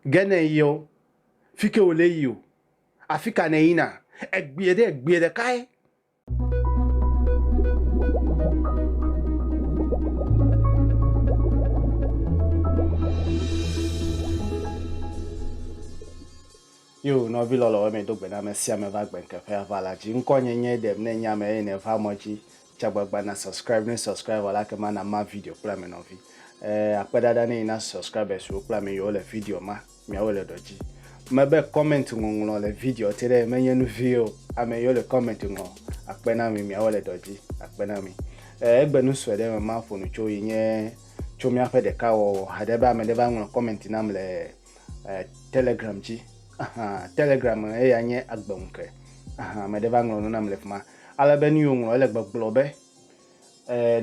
Ge ne yio, fike wòle yio? Afika nèyina? Egbie ɖe egbie ɖekae. Yo, nɔvi lɔlɔ̃, wɔ eme do gbe na ame sia ame va gbe ŋkeƒea va la dzi. Ŋkɔnye nye ɖem ne nye ame eye nèva mɔ dzi. Tsa gbagba na subscribe ne subscriber la kema na ma video kple ame nɔvi. Eh, akpe ɖaɖa ne yi na subscribers wo kple ame yiwo le video ma miawo le ɖɔ dzi. Mebe comment ŋɔŋlɔ le video te ɖe menye nu vi o. Ame yiwo le comment ŋɔ akpe na mi miawo le ɖɔ dzi. Akpe na mi. Eh, egbe nu sue ɖe me ma ƒo nu tso yi nye tso miaƒe ɖeka wɔwɔ haɖe be ame ɖe va ŋlɔ comment nam le eh, telegram dzi. Aha, telegram eya nye agbe ŋuke. Aha, ame ɖe va ŋlɔ nu nam le fima. Ale be nuyi wòŋlɔ ele gbɔgblɔ be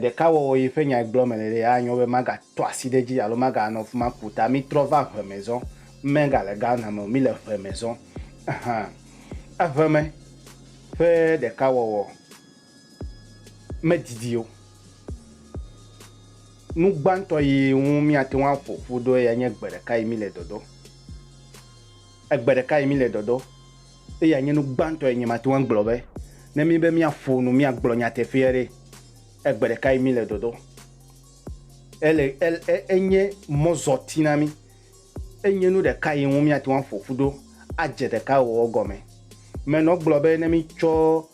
ɖeka wɔwɔ yi ƒe nyae gblɔ mele ɖe, anyo be magatɔ asi ɖe edzi alo maganɔ afi ma ƒu ta. Mitrɔ va ŋe me zɔ. Megale Ghana me o. Mile ŋe me zɔ. Ehe. Eŋe me ƒe ɖeka wɔwɔ medidi o. Nu gbãtɔ yi ŋu míate ŋu aƒo ƒu ɖo eyae nye gbe ɖeka yi mile dɔdɔ. Egbe ɖeka yi mile dɔdɔ. Eyae nye nu gbãtɔ yi nye mate ŋu agblɔ be ne míe be míaƒo nu, míagblɔ nyateƒea ɖe, egbe ɖeka yi míle dɔdɔ. Ele, el, e, enye mɔzɔti na mí. Enye nu ɖeka yi ŋu míate ŋu aƒo ƒu ɖo adze ɖeka wɔwɔ gɔme. Menɔ gblɔ be ne mítsɔ,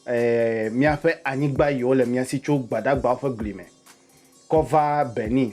e, míaƒe anyigba yiwo le mía si tso Gbadagbawo ƒe gli me kɔ va Benin,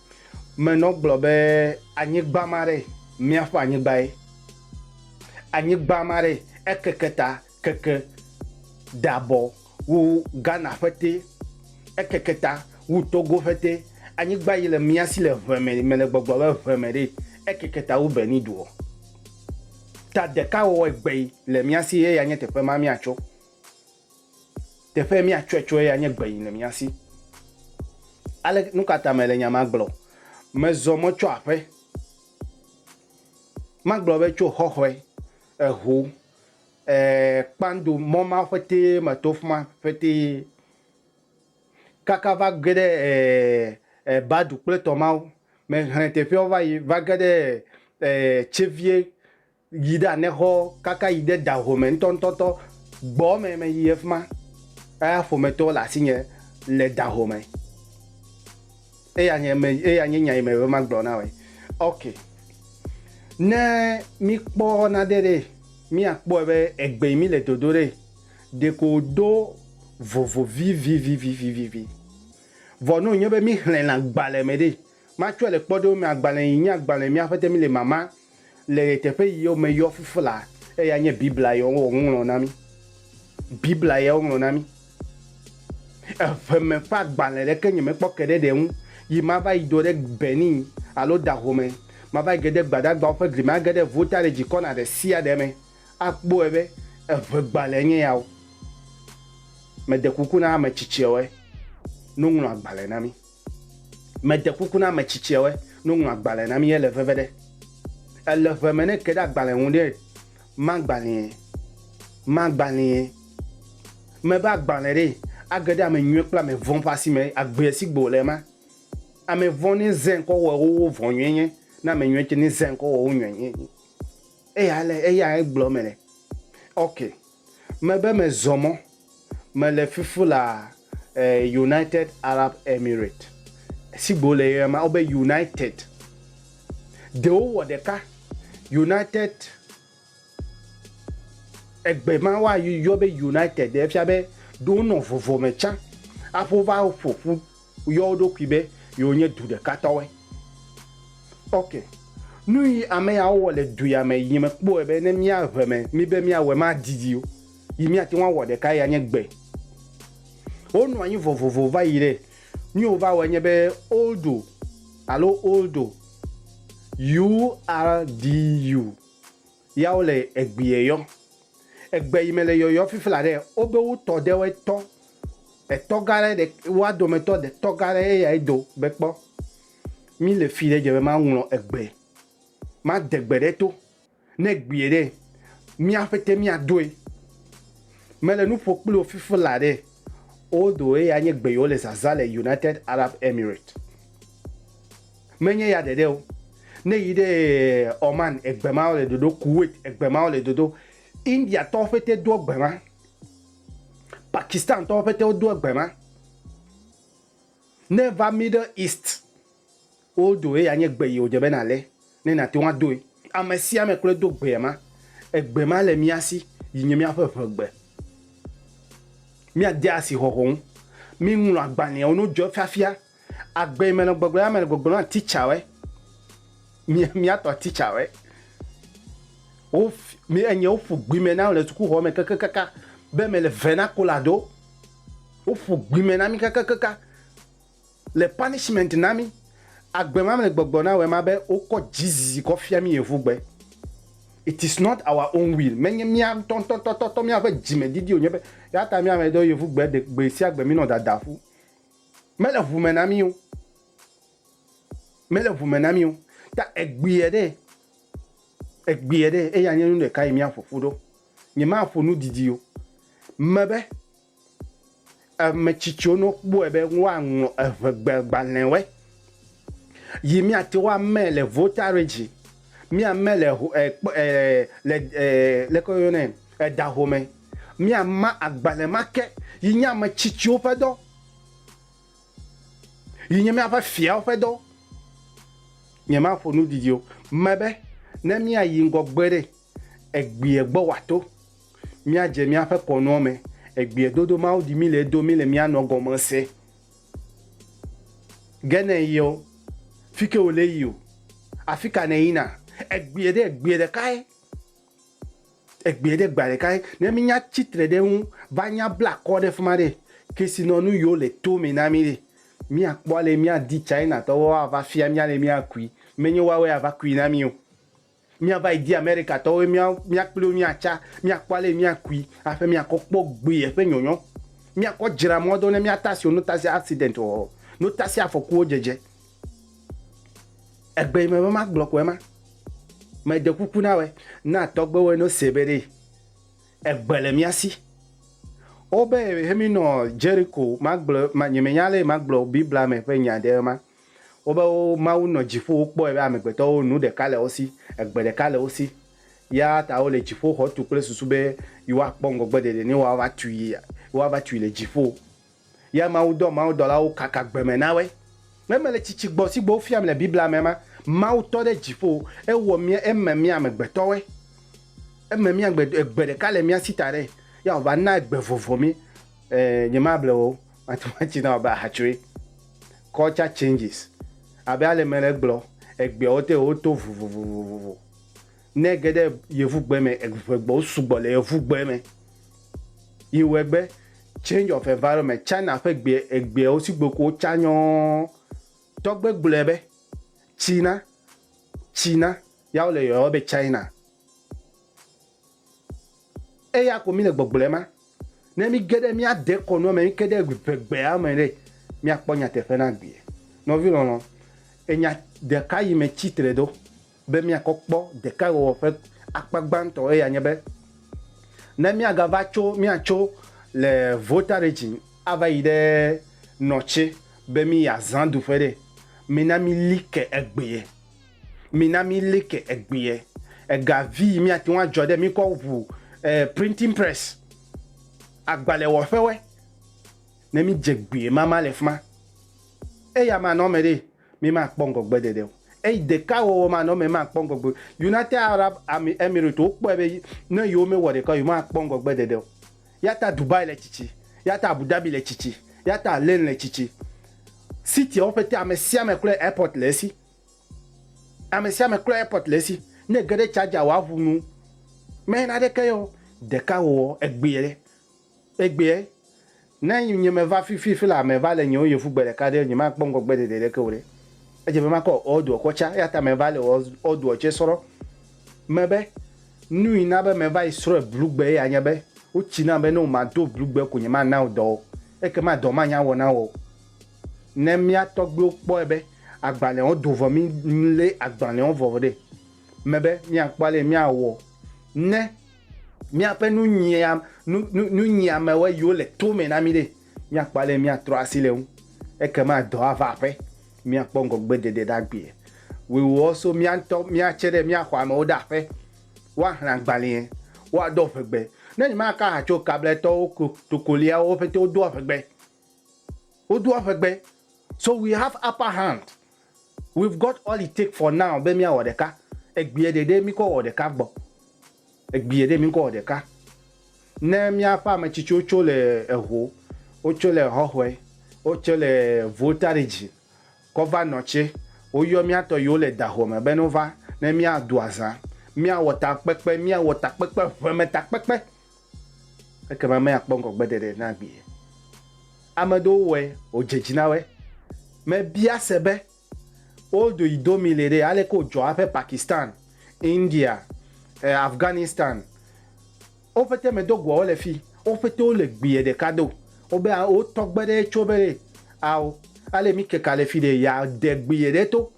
me nɔ gblɔ be anyigba ma ɖe miaƒe anyigba ye anyigba ma ɖe ekeke ta keke dabɔ wu Ghana ƒe te ekeke ta wu Togo ƒe te anyigba yi le mia si le ʋe me me le gbɔgblɔ be ʋe me ɖe ekeke ta wu Benin duɔ ta ɖeka wɔwɔ egbe yi le mia si ye ya nye teƒe ma miatso Teƒe míatsɔe tsɔe ya nye gbeyin le mía si. Ale nukata mele nya ma gblɔ? Mezɔ mɔ tso aƒe. Magblɔ be tso xɔxɔe, eho, e, kpando mɔ ma ƒetee meto fima ƒetee kaka va ge ɖe e, e, Badu kple tɔ mawo. Mehlẽ teƒeawo va yi va ge ɖe e, Tsevie yi ɖe anexɔ kaka yi ɖe da home ŋutɔŋutɔtɔ gbɔ me meyi ɖe fi ma. Eya ƒometɔwo le asinye le da home. Eya nye me eya nye nya yi me be magblɔ na woe. Ok. Ne míkpɔ nane ɖe míakpɔe be egbe yi mi le dodo ɖe ɖeko do vovo vivivivivivi. Vɔ ne wònye be míxlẽna gbalẽ me ɖe Matsɔe le kpɔɖewo me agbalẽ yi nye agbalẽ Mía Aƒetɔ Míle Mama le ɣeteƒe yiwo me yɔ fufu la eya nye Biblia ye woŋlɔ na mí. Biblia ye woŋlɔ na mí. Eʋeme ƒe agbalẽ ɖeke nyemekpɔ ke ɖe ɖe ŋu yi mava yi do ɖe Benin alo Dahomey me, mava yi ge ɖe Gbadagbawo ƒe gli me age ɖe Volta ɖe dzikɔna ɖe sia ɖe me akpɔe be eʋegbalẽe nye ya o. Mede kuku na ame tsitsiawoe no ŋlɔ agbalẽ na mí. Meɖe kuku na ame tsitsiawe no ŋlɔ agbalẽ na mi ele veve ɖe. Ele ŋe me ne ke ɖe agbalẽ ŋu ɖe ma gbalẽe, ma gbalẽe. Me be agbalẽ ɖe age ɖe ame nyuie kple ame vɔ̃ ƒe asi me agbe si gbe wòle ma. Ame vɔ̃ ne zẽ ŋkɔ wɔ wowo vɔ̃ nyuie nye ne ame nyuie tse ne zẽ ŋkɔ wɔ wo nyuie nye. Eya le, eya egblɔ me le. Okay. Mebe mezɔ mɔ. Mele fifu le United Arab Emirate. Sigbe wole yɔɛ ma, wobe United. Ɖewo wɔ ɖeka. United, egbe ma woayɔ be United ɖe efia be ɖo wonɔ vɔvɔ me tsã aƒo va ƒoƒu Woyɔ wo ɖokui be yewo nye du ɖeka tɔwoe. Ok. Nuyi ameyawo wɔ le du ya me yi mekpɔe be ne mía ʋe me mí be míawɔe madidi o yi míate ŋu awɔ ɖeka ya nye gbe. Wo nɔ anyi vovovo va yi ɖe nuyi wova wɔe nye be oldo alo oldo, U-L-D-U. Yawo le egbie yɔ. Egbe yi me le yɔyɔ fifla ɖe, wobe wo tɔ ɖe woe tɔ. Etɔ gã ɖe ɖe woa dome tɔ ɖe tɔ gã ɖe ye ya ye do be kpɔ. Mi le fi ɖe dze be ma ŋlɔ egbe. Ma de gbe ɖe to. Ne egbie ɖe, mia ƒete mia doe. Me le nu ƒo kpliwo fifla ɖe, odo ye ya nye gbe yi wo le zaza le United Arab Emirates. Menye ya ɖeɖe o, ne èyi ɖe Oman, egbe ma wole dodo, Kuwait, egbe ma wole dodo, Indiatɔwo ƒete do egbe ma, Pakistantɔwo ƒete wodo egbe ma. Ne èva Middle East, wodo eya nye gbe yi wòdze be nàlé ne nàte ŋu adoe. Ame sia ame kloe do gbe ma. Egbe ma le mía si yi nye míaƒe ʋegbe. Míade asixɔxɔ ŋu. Míŋlɔ agbalẽwo ne wodzɔ fiafia Agbe me nɔ gbɔgblɔ ya me le gbɔgblɔ na teacher we. Mi mi atɔ teacher we. Wo mi enye wo ƒu gbi me na le suku hɔ me keke kaka be me le vena kola do. Wo ƒu gbi me na mi keke kaka le punishment na mi. Agbe ma me le gbɔgblɔ na we ma be wo kɔ Jesus kɔ fia mi evu gbe. It is not our own will. Me nye mia tɔ tɔ tɔ tɔ tɔ mia ve dzi me didi o nye be ya ta mia me do yevu gbe de gbe sia gbe mi nɔ dada ƒu. Mele ŋu me na mí o. Mele ŋu me na mí o. Ta egbea ɖe, egbea ɖe eya nye nu ɖeka yi míaƒo ƒu ɖo. Nyemaƒo nu didi o. Mebe, ame tsitsiwo ne wokpɔe be woaŋlɔ eŋɛgbe gbalẽwoe. Yi mia te wa mɛ le votaredzi, mia mɛ le ho, eh, kpɔ, eh, le, eh, leke wo yɔnɛ, eh, da home. Mia ma agbalẽ ma ke, yi nye ame tsitsiwo ƒe dɔ. Yi nye mia ƒe fiawo ƒe dɔ. Nye ma ƒo nu didi o. Me be, ne mia yi ŋgɔ gbe ɖe, egbie gbɔ wa to. Mia dze mia ƒe kɔnuɔ me. Egbie dodo Mawu ɖi mi le edo mi le mia nɔ gɔme se. Ge ne yio, fike wo le yio? Afika ne yina? Egbie ɖe egbie ɖekae. Egbie ɖe gbea ɖekae. Ne mi nya tsi tre ɖe eŋu va nya bla kɔ ɖe fima ɖe, kesinɔnu yio le to me na mi ɖe, mi a kpɔ ale mi a di China tɔwo wa va fia mi ale mi a kui. Me nyo woawe a va kui na mio. Míava yi di Amerikatɔwo be mía, mía kpli wo míatsa, míakpɔ ale yi míakui aƒe, míakɔ kpɔ gbee eƒe nyɔnyɔ, míakɔ dzra mɔ do ne míatasi wo, notasi accident wɔwɔ, notasi afɔkuwo dzedze. Egbe yi mebe magblɔ koe ma. Mede kuku na wɔe, na tɔgbewoe no se be ɖee. Egbe le mía si. Wobe he mí nɔ Jeriko, magblɔ, ma, nyemenya ale yi magblɔ Biblia me ƒe nya ɖe ema. Wobe wo Mawu nɔ dziƒo, wokpɔe be amegbetɔwo nu ɖeka le wo si, egbe ɖeka le wo si. Eya ta wole dziƒoxɔ tu kple susu be yewoakpɔ ŋgɔgbeɖeɖe ne woava tui, woava tui le dziƒo. Ya Mawu dɔ mawudɔlawo kaka gbe me na woe. Ne mele tsitsi gbɔ si gbɔ wofiam le Biblia me ma, Mawu tɔ ɖe dziƒo, ewɔ mía, eme mía amegbetɔwoe. Eme mía amegbetɔ, egbe ɖeka le mía si ta ɖe, ya wòva na egbe vovo mí. Ɛɛ, nyemable o. Mathematics na abe ahatsoe. Culture changes. Abe ale me le gblɔ, egbeawo te woto vovovovovo. Ne ge ɖe yevugbe me, eŋegbewo sugbɔ le yevugbe me. Yi wɔe be change of environment. China ƒe gbe, egbeawo si gbe ko wotsa nyɔɔ. Tɔgbe gblɔe be China, China, ya wole yɔyɔ be China. Eya ko míle gbɔgblɔ ema. Ne míge ɖe mía dekɔnua me, míge ɖe ŋegbea me ɖe, míakpɔ nyateƒe na gbea. Nɔvi lɔlɔ, enya ɖeka yi me tsi tre ɖo be míakɔ kpɔ ɖekawɔwɔ ƒe akpa gbãtɔ eya nye be, ne míagava tso, míatso le Volta Region ava yi ɖe Nɔtse be míyi azã ɖuƒe ɖe, mina míli ke egbea. Mina mi like egbeɛ. Ega vi yi miate ŋu adzɔ ɖe mi kɔ ŋu e printing press, agbalẽwɔƒewɔe. Ne mi dze gbeɛ mama le fima, eya manɔ eme ɖe mi ma kpɔ ŋgɔgbe ɖeɖe o. Eyi ɖeka wɔwɔ manɔ eme ma kpɔ ŋgɔgbe. United Arab Emirates wo kpɔe be ne yewo me wɔ ɖeka o, yewo ma kpɔ ŋgɔgbe ɖeɖe o. Yata Dubai le tsitsi, yata Abu Dhabi le tsitsi, yata Al Ain le tsitsi. City-awo ƒete amesiame klɔe airport le esi. Amesiame klɔe airport le esi. Ne ege ɖe charger wò aʋu nu, mɛ naɖeke ye o. Ɖeka wowɔ, egbea, egbea. Ne nye meva fi fi fila meva le nyewo yevu gbe ɖeka ɖe, nyemakpɔ ŋgɔgbe ɖeɖe ɖeke o ɖe. Edze be makɔ old-oa kɔ tsa. Yata meva le old-oa tsɛ srɔ. me be, Nui na be meva yi srɔ̃e blugbe ye anye be wotsi nam be ne womado blugbe ko nyemana wò dɔ o, ekema dɔ ma nyawɔ na wò o. Ne mía tɔgbuiwo kpɔe be agbalẽawo do vɔ mí lé agbalẽawo vɔ ɖe me be míakpɔ ale míawɔ ne míaƒe nunyia, nu, nu, nunyiamewoe yiwo le to me na mí ɖe, míakpɔ ale míatrɔ asi le eŋu, ekema dɔ ava aƒe. míakpɔ ŋgɔgbedede ɖagbee. Wòewɔ so mía ŋutɔ míatse ɖe mía xɔamewo ɖe aƒe, woaxlẽ agbalẽe, woado aʋegbe. Ne nyemaka ha tso Kabletɔwo ko Tokoliawo wo ƒete wodo aʋegbe. Wodo aʋegbe. So we have upper hand. We've got all it take for now be míawɔ ɖeka. Egbea ɖeɖe míkɔ wɔ ɖeka gbɔ. Egbie ɖe mi ŋkɔ wɔ ɖeka. Ne míaƒe ame tsitsiwo tso le eho, wotso le hɔhɔe, wotso le voltaredzi kɔ va nɔ tse, woyɔ mía tɔ yiwo le daho me be no va ne mía do azã, mía wɔ takpekpe, mía wɔ takpekpe, ʋeme takpekpe, ekema mea kpɔ ŋgɔ gbe ɖeɖe na gbie. Ame ɖewo wɔe, wodze dzi na wɔe. Me bia se be. Wo do yi do mi le ɖe ale ke wo dzɔ aƒe Pakistan, India, eh Afghanistan wo ƒete me do goa wo le fi wo ƒete wo le gbiɛ ɖeka do wo be a wo tɔgbe ɖe tso be ɖe ao ale mi keka le fi ɖe ya de gbiɛ ɖe to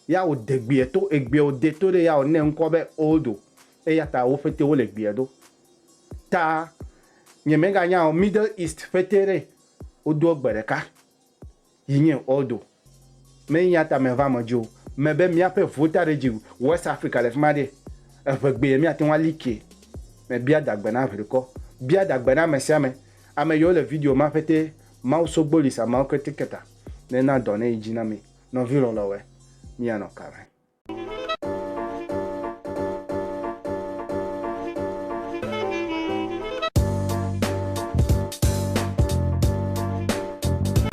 ya wo de gbiɛ to egbiɛ wo de to ɖe ya wo ne ŋkɔ be odo eya ta wo ƒete wo le gbiɛ do ta nye me ga nya o middle east ƒete ɖe wo do egbe ɖeka. yi nye Ordo me eya ta me va me dzo me be mia ƒe vota ɖe dzi West Africa le fima ɖe eʋe gbe ye mia te ŋu ali ke me bia da gbe na ʋli kɔ bia da gbe na ame sia ame ame yi wo le video ma ƒe te Mawu sogbo Lisa Mawu ke te keta ne na dɔ ne yi dzi na mi nɔvi lɔlɔ we mi ya nɔ ka me.